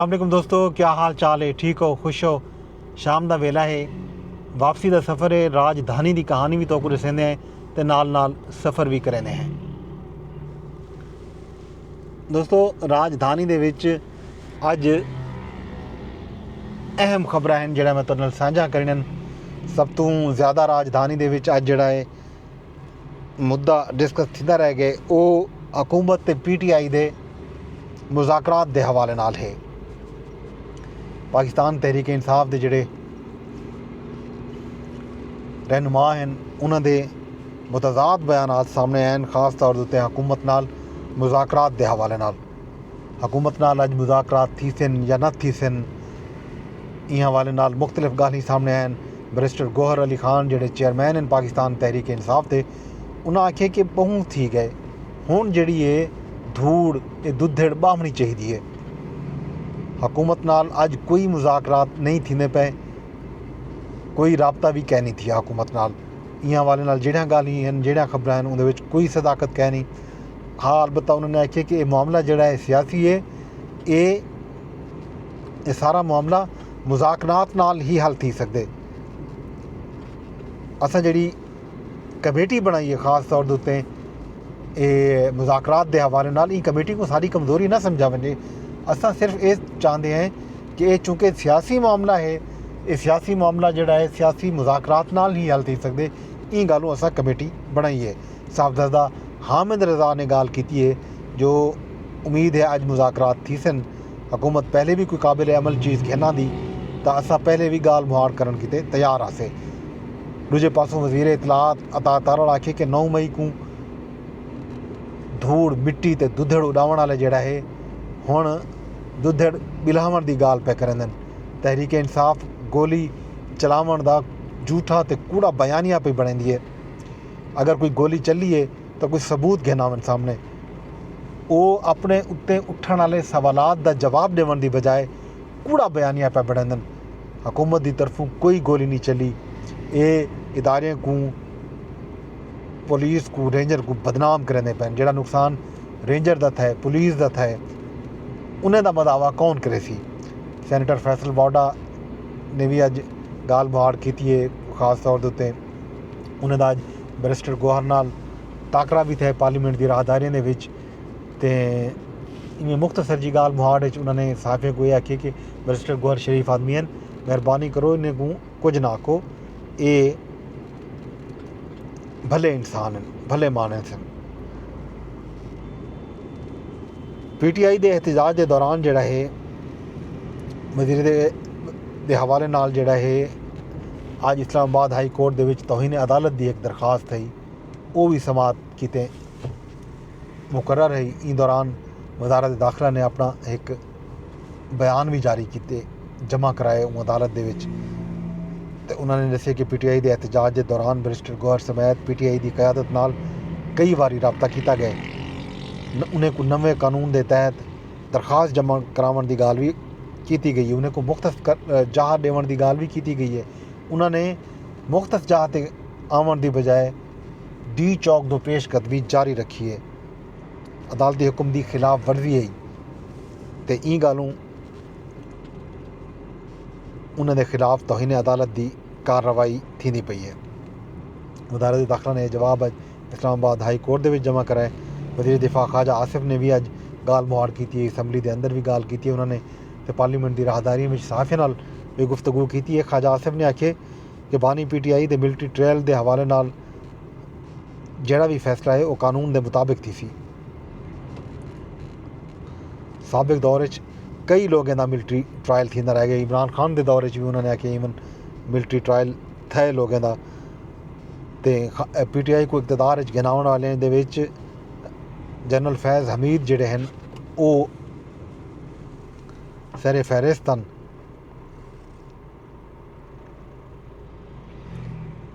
السلام علیکم دوستو کیا حال چال ہے ٹھیک ہو خوش ہو شام دا ویلا ہے واپسی دا سفر ہے راج دھانی دی کہانی بھی توکو رسیندے ہیں تے نال نال سفر بھی کریندے ہیں دوستو راج دھانی دے وچ اج اہم خبریں ہیں جڑا میں ترنل سانجھا کرنن سب تو زیادہ راج دھانی دے وچ اج جڑا ہے مدعا ڈسکس تھیندا رہ گئے او حکومت تے پی ٹی آئی دے مذاکرات دے حوالے نال ہے پاکستان تحریک انصاف دے جڑے رہنما ہیں انہاں دے متضاد بیانات سامنے آئے خاص طور تے حکومت نال مذاکرات دے حوالے نال حکومت نال اڄ مذاکرات تھیسن یا نہ تھیسن ایں حوالے نال مختلف گالھیں سامنڑے آئن بیرسٹر گوہر علی خان جیڑھے چیئرمین ہن پاکستان تحریک انصاف دے انہاں آکھیے کہ بہوں تھی گئے ہنڑ جیڑھی اے دھوڑ اے ددھیڑ باہمنڑی چاہیدی اے حکومت نال اج کوئی مذاکرات نئیں تھیندے پئے کوئی رابطہ وی کینی تھیا حکومت نال ایں حوالے نال جیڑھیاں گالھیں ہن جیڑھیاں خبراں ہن اوندے وچ کوئی صداقت کینی ہا البتہ انہوں نے آکھیا کہ اے معاملہ جیڑھا اے سیاسی اے اے اے سارا معاملہ مذاکنات نال ہی حل تھی سگدے اساں جیڑھی کمیٹی بنڑائی اے خاص طور دے اتے اے مذاکرات دے حوالے نال ایں کمیٹی کو ساری کمزوری نہ سمجھا ونجے اساں صرف اے چاہندے ہیں کہ اے چونکہ سیاسی معاملہ ہے اے سیاسی معاملہ جیڑا ہے سیاسی مذاکرات نال ہی حل تھی سکدے ایں گالوں اساں کمیٹی بنڑائی ہے صاحبزادہ حامد رضا نے گالھ کیتی اے جو امید ہے اج مذاکرات تھیسن، حکومت پہلے وی کوئی قابل عمل چیز گھن آندی تاں اساں پہلے وی گالھ مہاڑ کرنڑ کیتے تیار ہاسے۔ ڈوجھے پاسوں وزیر اطلاعات عطا تارڑ آکھیے کہ نو مئی کوں دھوڑ، مٹی تے ددھڑ اڈاونڑ آلے جیڑھا ہے ہنڑ ددھڑ بلہاونڑ دی گالھ پئے کریندن، تحریک انصاف گولی چلاونڑ دا جھوٹھا تے کوڑا بیانیہ پئی بنڑیندی اے۔ اگر کوئی گولی چلی اے تاں کوئی ثبوت گھن آون سامݨے۔ او اپݨے اتے اٹھݨ آلے سوالات دا جواب ݙیوݨ دی بجائے کوڑا بیانیہ پئے بݨیندن۔ حکومت دی طرفوں کوئی گولی نی چلی اے اداریاں کوں پولیس کوں رینجر کوں بدنام کریندے پئن جیڑھا نقصان رینجر دا تھئے پولیس دا تھئے انہیں دا مداوا کون کریسی۔ سینیٹر فیصل واوڈا نے وی اڄ گالھ مہاڑ کیتی اے خاص طور دے اتے۔ انہاں دا اج بیرسٹر گوہر نال ٹاکرا وی تھئے پارلیمنٹ دی راہداریاں دے وچ تے ایویں مختصر جی گالھ مہاڑ وچ انہاں نے صحافیاں کوں اے آکھیے کہ بیرسٹر گوہر شریف آدمی ہن مہربانی کرو انہیں کوں کچھ نہ آکھو اے بھلے انسان ہن بھلے مانس ہن پی ٹی آئی دے احتجاج دے دوران جڑا ہے وزیر دے دے حوالے نال جڑا ہے اج اسلام آباد ہائی کورٹ دے وچ توہین عدالت دی ہک درخواست تھئی او وی سماعت کیتے مقرر ہئی ایں دوران وزارت داخلہ نے اپنا ہک بیان وی جاری کیتے جمع کرائے اوں عدالت دے وچ تے انہاں نے دسے کہ پی ٹی آئی دے احتجاج دے دوران بیرسٹر گوہر سمیت پی ٹی آئی دی قیادت نال کئی واری رابطہ کیتا گئے انہیں کوں نویں قانون دے تحت درخواست جمع کراونڑ دی گالھ وی کیتی گئی ہے انہاں کوں مختص جاہ ڈیونڑ دی گالھ وی کیتی گئی ہے انہاں نے مختص جاہ تے آونڑ دی بجائے ڈی چوک توں پیش قدمی جاری رکھی ہے عدالتی حکم دی خلاف ورزی ہئی تے ایں گالھوں انہاں دے خلاف توہین عدالت دی کارروائی تھیندی پئی ہے وزارت داخلہ نے جواب اسلام آباد ہائی کورٹ دے وچ جمع کرائے۔ وزیر دفاع خواجہ آصف نے وی اج گالھ مہاڑ کیتی اے۔ اسمبلی دے اندر وی گالھ کیتی اے۔ انہاں نے تے پارلیمنٹ دی راہداریاں وچ صحافیاں نال وی گفتگو کیتی اے۔ خواجہ آصف نے آکھیے کہ بانی پی ٹی آئی دے ملٹری ٹریل دے حوالے نال جیڑھا وی فیصلہ اے او قانون دے مطابق تھیسی۔ سابق دور اچ کئی لوگیں دا ملٹری ٹرائل تھیندا رہ گئے۔ عمران خان دے دور اچ وی انہاں نے آکھیے ایون ملٹری ٹرائل تھئے لوگیں دا۔ تے پی ٹی آئی کوں اقتدار اچ گھناونڑ آلیاں دے وچ جنرل فیض حمید جیڑھے ہن او سر فہرست ہن۔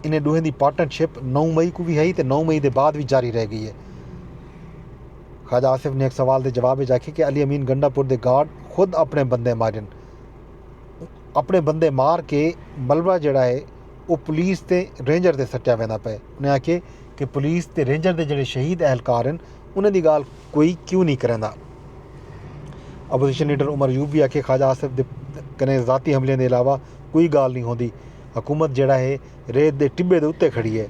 انہیں ڈوہیں دی پارٹنر شپ نو مئی کوں وی ہئی تے نو مئی دے بعد وی جاری رہ گئی ہے۔ خواجہ آصف نے ایک سوال دے جواب وچ آکھیا کہ علی امین گنڈا پور دے گارڈ خود اپنڑے بندے مارن۔ اپنڑے بندے مار کے ملبہ جیڑھا ہے۔ او پولیس تے رینجر تے سٹیا ویندا پئے۔ انہاں آکھیے کہ پولیس تے رینجر دے جیڑھے شہید اہلکار ہن انہاں دی گالھ کوئی کیوں نی کریندا۔ اپوزیشن لیڈر عمر ایوب وی آکھیے خواجہ آصف دے کنیں ذاتی حملیاں دے علاوہ کوئی گالھ نی ہوندی۔ حکومت جیڑھا ہے ریت دے ٹبے دے اتے کھڑی ہے۔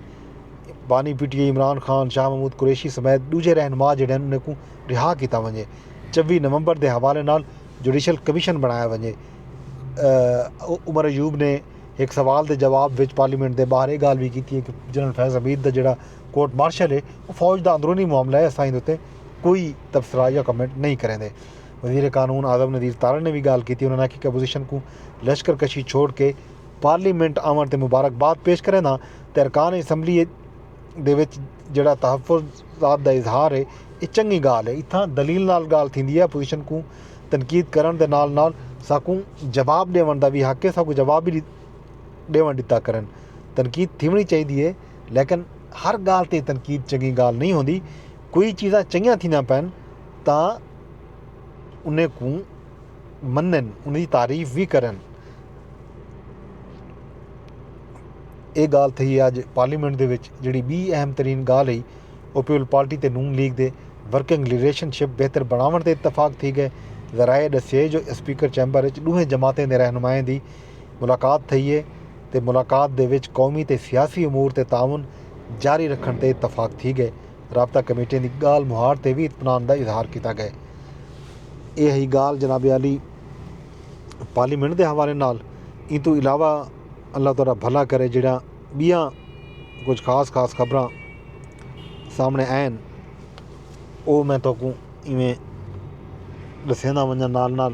بانی P T I Imran Khan, Shah Mahmood Qureshi سمیت ڈوجھے رہنما جیڑھے ہن انہاں کوں رہا کیتا ونجے۔ چوی نومبر دے حوالے نال جوڈیشل کمیشن بنڑایا ونجے۔ عمر ایوب نے۔ ہک سوال دے جواب وچ پارلیمنٹ دے ٻاہر اے ڳالھ وی کیتی اے کہ جنرل فیض حمید دا جیڑھا کورٹ مارشل اے او فوج دا اندرونی معاملہ اے اساں ایندے اتے کوئی تبصرہ یا کمنٹ نئیں کریندے۔ وزیر قانون اعظم نذیر تارڑ نے وی ڳالھ کیتی انہاں نے آکھیا کہ اپوزیشن کوں لشکر کشی چھوڑ کے پارلیمنٹ آوݨ تے مبارکباد پیش کرینداں تے ارکان اسمبلی دے وچ جیڑھا تحفظ ذات دا اظہار ہے اے چنگی گالھ ہے اتھاں دلیل نال گالھ تھیندی ہے اپوزیشن کوں تنقید کرنڑ دے نال نال ساکوں جواب ڈیونڑ دا وی حق ہے ساکوں جواب وی ڈیونڑ ڈتا کرن تنقید تھیونڑی چاہیدی ہے لیکن ہر گالھ تے تنقید چنگی گالھ نہیں ہوندی کوئی چیزاں چنگیاں تھیندیاں پین تاں انہیں کوں منن، اندی تعریف وی کرن۔ اے گالھ تھئی اج پارلیمنٹ دے وچ جیڑھی بی اہم ترین گالھ ہئی او پیپلز پارٹی تے نون لیگ دے ورکنگ ریلیشن شپ بہتر بنڑاونڑ تے اتفاق تھی گئے۔ ذرائع ڈسیے جو اسپیکر چیمبر اچ ڈوہیں جماعتیں دے رہنمائیں دی ملاقات تھئی اے تے ملاقات دے وچ قومی تے سیاسی امور تے تعاون جاری رکھنڑ تے اتفاق تھی گئے۔ رابطہ کمیٹیاں دی گالھ مہاڑ تے وی اطمینان دا اظہار کیتا گئے۔ اے ہئی گالھ جناب عالی پارلیمنٹ دے حوالے نال ایں توں علاوہ اللہ تہاڈا بھلا کرے جیڑھیاں بیاں کجھ خاص خاص خبراں سامنے آئین او میں تہاکوں ایویں ڈسیندا ونجاں نال نال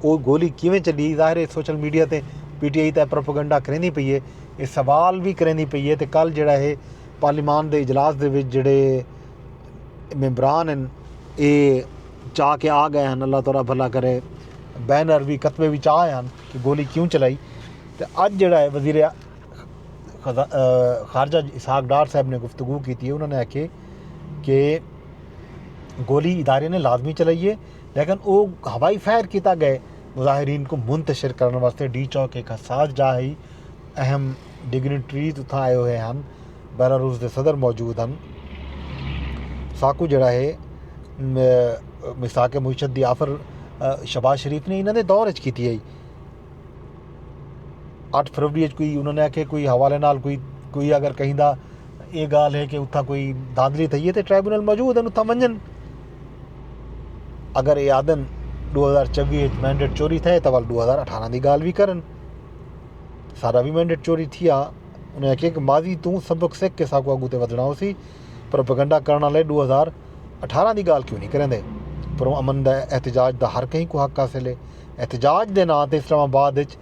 او گولی کیویں چڈی؟ ظاہر اے سوشل میڈیا تے پی ٹی آئی تاں اے پروپیگنڈا کریندی پئی اے اے سوال وی کریندی پئی اے تے کل جیڑھا اے پارلیمان دے اجلاس دے وچ جیڑھے ممبران ہن اے چا کے آ گئے ہن اللہ تہاڈا بھلا کرے بینر وی کتبے وی چا آئے ہن کہ گولی کیوں چلائی تے اج جیڑھا اے وزیر خارجہ اسحاق ڈار صاحب نے گفتگو کیتی اے انہاں نے آکھیے کہ گولی ادارے نے لازمی چلائی اے لیکن او ہوائی فائر کیتا گئے مظاہرین کوں منتشر کرن واسطے ڈی چوک ہک حساس جاہ ہئی اہم ڈگنیٹریز اتھاں آئے ہوئے ہن بیلاروس دے صدر موجود ہن ساکوں جڑا ہے میثاق معیشت دی آفر شہباز شریف نے انہاں دے دور اچ کیتی ہئی اٹھ فروری اچ کوئی انہاں نے آکھے کوئی حوالے نال کوئی کوئی اگر کہیں دا اے گالھ ہے کہ اتھاں کوئی دھاندلی تھئی ہے تے ٹرائبونل موجود ہیں اتھاں ونجن اگر اے آدن ڈو ہزار چوی اچ مینڈیٹ چوری تھے تو ول ڈو ہزار اٹھارہ دی گالھ بھی کرن سارا بھی مینڈیٹ چوری تھیا انہیں آکھیا کہ ماضی تو سبق سکھ کے ساکو اگو تے ودھنا ہو سی پروپیگنڈا کرنا لے ڈو ہزار اٹھارہ دی گالھ کیوں نہیں کریں دے پر امن دا احتجاج دا ہر کہیں کو حق حاصل ہے احتجاج دے نام تے اسلام آباد اچ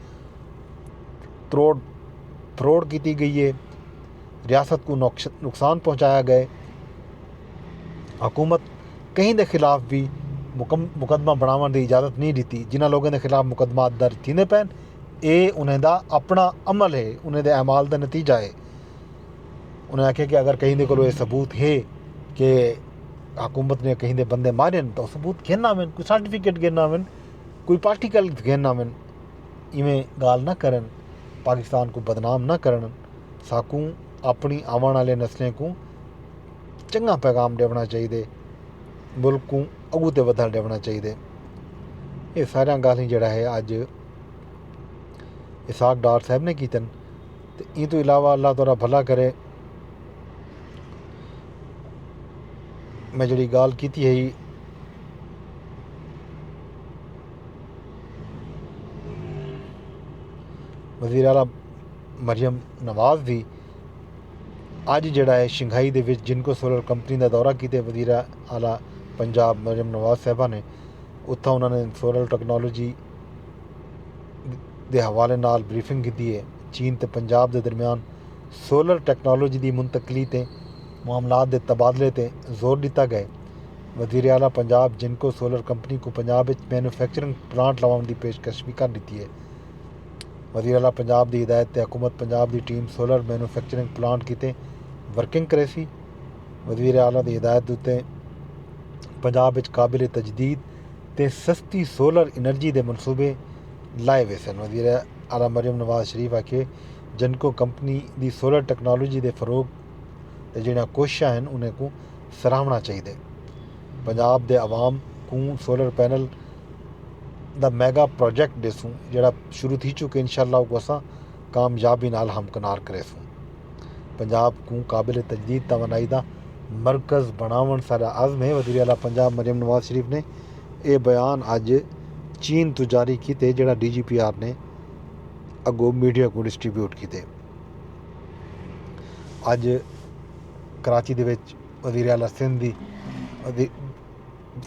تروڑ تھروڑ کیتی گئی ہے ریاست کوں نقصان پہنچایا گئے حکومت کہیں دے خلاف بھی مقدمہ بناون دی اجازت نہیں ڈیتی جنہاں لوگوں دے خلاف مقدمات درج تھیندے پین اے انہیں دا اپنا عمل ہے انہیں دے اعمال دا نتیجہ ہے انہیں آکھیا کہ اگر کہیں دے کولو اے ثبوت ہے کہ حکومت نے کہیں دے بندے مارے ہیں تو ثبوت گھن آویں کوئی سرٹیفکیٹ گھن آویں کوئی پارٹیکل گھن آویں ایویں گال نہ کرن پاکستان کو بدنام نہ کرن ساکوں اپݨی آوݨ آلے نسلیں کوں چنگا پیغام ݙیوݨا چاہیدے ملک کوں اڳوں تے ودھݨ ݙیوݨا چاہیدے اے ساریاں ڳالھیں جیڑھا ہے اڄ اسحاق ڈار صاحب نے کیتن تے ایں تو علاوہ اللہ تعالی بھلا کرے میں جڑی ڳالھ کیتی ہئی وزیر اعلیٰ مریم نواز دی اج جیڑھا ہے شنگھائی دے وچ جنکو سولر کمپنی دا دورہ کیتے وزیر اعلی پنجاب مریم نواز صاحبہ نے اتھاں انہاں نے سولر ٹیکنالوجی دے حوالے نال بریفنگ گھدی اے چین تے پنجاب دے درمیان سولر ٹیکنالوجی دی منتقلی تے معاملات دے تبادلے تے زور ڈتا گئے وزیر اعلی پنجاب جنکو سولر کمپنی کوں پنجاب اچ مینوفیکچرنگ پلانٹ لاونڑ دی پیشکش وی کر ڈتی اے۔ وزیراعلی پنجاب دی ہدایت تے حکومت پنجاب دی ٹیم سولر مینوفیکچرنگ پلانٹ کیتے ورکنگ کریسی۔ وزیراعلی دی ہدایت اتے پنجاب اچ قابل تجدید تے سستی سولر انرجی دے منصوبے لائے ویسن۔ وزیراعلی مریم نواز شریف آکھیے جینکو کمپنی دی سولر ٹیکنالوجی دے فروغ تے جیہڑیاں کوششاں ہن انہاں کوں سراہوݨا چاہیدے۔ پنجاب دے عوام کوں سولر پینل دا میگا پراجیکٹ ڈیسوں جیڑھا شروع تھی چکے انشاءاللہ اوکوں اساں کامیابی نال ہمکنار کریسوں پنجاب کوں قابل تجدید توانائی دا مرکز بنڑاونڑ ساڈا عزم ہے وزیراعلی پنجاب مریم نواز شریف نے اے بیان اج چین توں جاری کیتے جیڑھا ڈی جی پی آر نے اگو میڈیا کوں ڈسٹری بیوٹ کیتے اج کراچی دے وچ وزیراعلی سندھ دی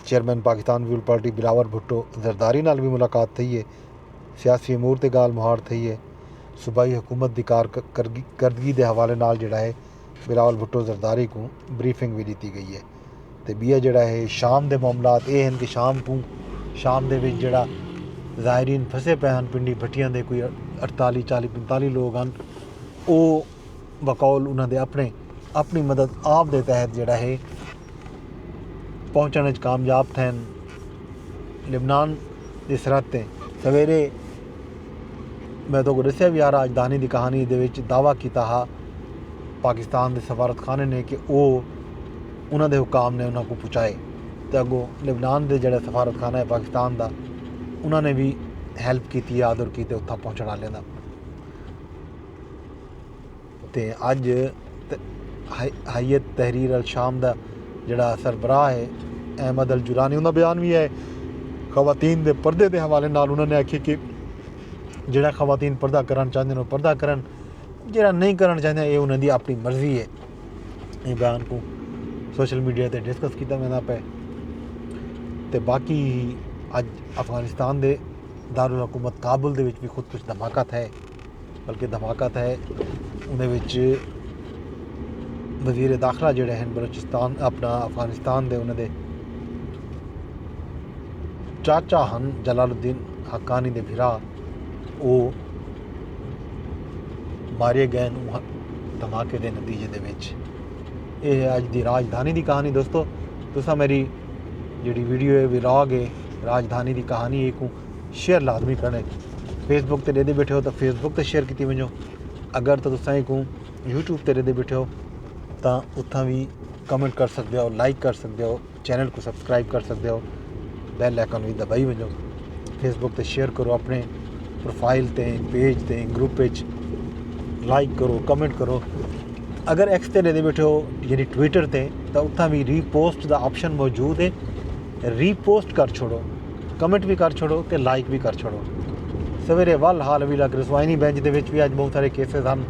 chairman Pakistan Peoples Party Bilawal Bhutto Zardari نال وی ملاقات تھئی اے۔ سیاسی امور تے گالھ مہاڑ تھئی اے۔ صوبائی حکومت دی کارکردگی دے حوالے نال جیڑھا اے بلاول بھٹو زرداری کوں بریفنگ وی ݙتی ڳئی اے تے ٻیا جیڑھا اے شام دے معاملات اے ہن کہ شام کوں شام دے وچ جیڑھا زائرین پھسے پئے ہن پنڈی بھٹیاں دے کوئی اٹھتالی چالی پنتالی لوک ہن او بقول انہاں دے اپݨے اپݨی مدد آپ دے تحت جیڑھا ہے پہنچݨ اچ کامیاب تھئن۔ لبنان دی سرحد تے سویرے میں تہاکوں ݙسیا وی آرا اجدانی دی کہانی دے وچ دعوی کیتا ہا پاکستان دے سفارت خانے نے کہ او انہاں دے حکام نے انہاں کوں پچائے تے اگوں لبنان دے جیڑھا سفارت خانہ ہے پاکستان دا انہاں نے وی ہیلپ کیتی ہے آدر کیتے اتھاں پہنچݨ آلیاں دا۔ تے اج ہیئت تحریر الشام دا جیڑھا سربراہ ہے احمد الجولانی انہاں بیان وی ہے خواتین دے پردے دے حوالے نال انہاں نے آکھیا کہ جیڑھا خواتین پردہ کرن چاہندے نے پردہ کرن جیڑھا نہیں کرن چاہندے اے انہاں دی اپنی مرضی ہے اے بیان کو سوشل میڈیا تے ڈسکس کیتا ویندا پے تے باقی اج افغانستان دے دارالحکومت کابل دے وچ بھی خود کچھ دھماکہ تھے بلکہ دھماکہ تھئے انہیں وچ وزیر داخلہ جڑے ہیں بلوچستان اپنا افغانستان دے انہیں دے چاچا ہن جلال الدین حقانی دے بھرا او مارے گئے ہیں دھماکے دے نتیجے دے وچ اے ہے آج دی راجدھانی دی کہانی دوستو تسا میری جڑی ویڈیو ہے ویلاگ ہے راجدھانی دی کہانی ایک ہوں شیئر لازمی کرݨے فیس بک تے ݙیندے بیٹھے ہو تاں فیس بک تے شیئر کیتی ونجو اگر تاں تساں کوں یوٹیوب تے ݙیندے بیٹھے ہو تاں اتھاں وی کمنٹ کر سڳدے ہو لائک کر سڳدے ہو چینل کوں سبسکرائب کر سڳدے ہو بیل آئیکن وی دبائی ونجو فیس بک تے شیئر کرو اپنے پروفائل تے پیج تے گروپ وچ لائک کرو کمنٹ کرو اگر ایکس تے ݙیندے بیٹھے ہو یعنی ٹویٹر تے تاں اتھاں وی ری پوسٹ دا آپشن موجود ہے ری پوسٹ کر چھوڑو کمنٹ وی کر چھوڑو تے لائک وی کر چھوڑو سویرے ول حال حویلہ گرسوائنی بینچ دے وچ وی اج بہت سارے کیسز ہن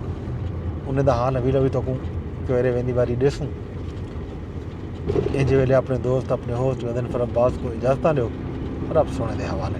انہیں دا حال حویلہ وی تکوں سویرے ویندی واری ڈیسوں انج ویلے اپنے دوست اپنے ہوسٹ غزن فرباز کو اجازتاں دیو رب سونے دے حوالے